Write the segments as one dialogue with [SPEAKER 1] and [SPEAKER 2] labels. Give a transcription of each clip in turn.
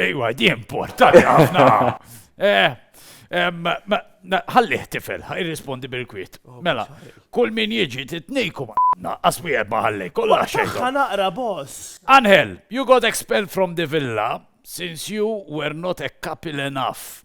[SPEAKER 1] Ejwa,
[SPEAKER 2] di importanti ħafna. Eh, ħalliħ tifel, irrispondi bil-kwiet. Oh, mela, kull min jiġi titnejku ma' asmi erba ħallej, kollha xejn. naqra boss.
[SPEAKER 1] Anhel, you got
[SPEAKER 2] expelled from the villa since you were not a couple enough.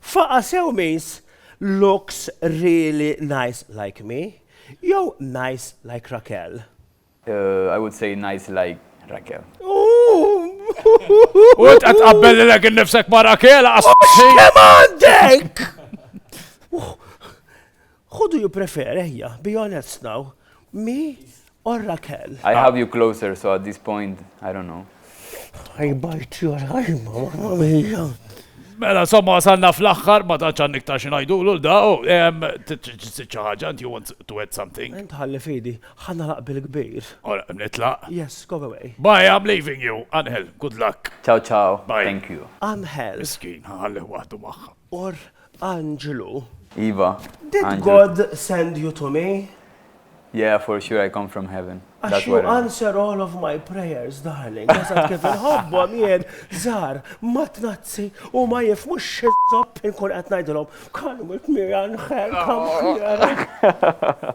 [SPEAKER 1] Faqa' sew means looks really nice like me jew nice like Raquel? I
[SPEAKER 3] would say nice like Raquel. U
[SPEAKER 2] int qed tqabbel lilek innifsek ma' Raquel, aqas. X'fehma
[SPEAKER 1] għandek? Who do you prefer ejja be honest now, me or Raquel? I have you closer
[SPEAKER 3] so at this point I don't
[SPEAKER 1] know.
[SPEAKER 3] I
[SPEAKER 1] bite your ħajma
[SPEAKER 3] mamma
[SPEAKER 1] mia.
[SPEAKER 2] Mela, somma wasalna fl-axħar, ma taċ għan niktar xinajdu l da, u ċaħġa, and you want to add something? Ent ħalli fidi,
[SPEAKER 1] ħanna laq bil-kbir. Ora, nitlaq?
[SPEAKER 2] Yes, go away.
[SPEAKER 1] Bye, I'm leaving you.
[SPEAKER 2] Angel, good luck. Ciao, ciao. Bye.
[SPEAKER 3] Thank you.
[SPEAKER 2] Angel.
[SPEAKER 3] Miskin,
[SPEAKER 1] ħalli
[SPEAKER 2] għadu maħħa. Or,
[SPEAKER 1] Anġlu. Iva, anġlu.
[SPEAKER 3] Did God
[SPEAKER 1] send
[SPEAKER 3] you
[SPEAKER 1] to me? Yeah, for
[SPEAKER 3] sure I come from heaven. Għax you answer
[SPEAKER 1] all
[SPEAKER 3] of my
[SPEAKER 1] prayers, darling. Għazat kif nħobbom jien, zar, ma tnazzi u ma jifmu xizzob inkun għat najdilom. Kalmu t-mira nħel, kam xira.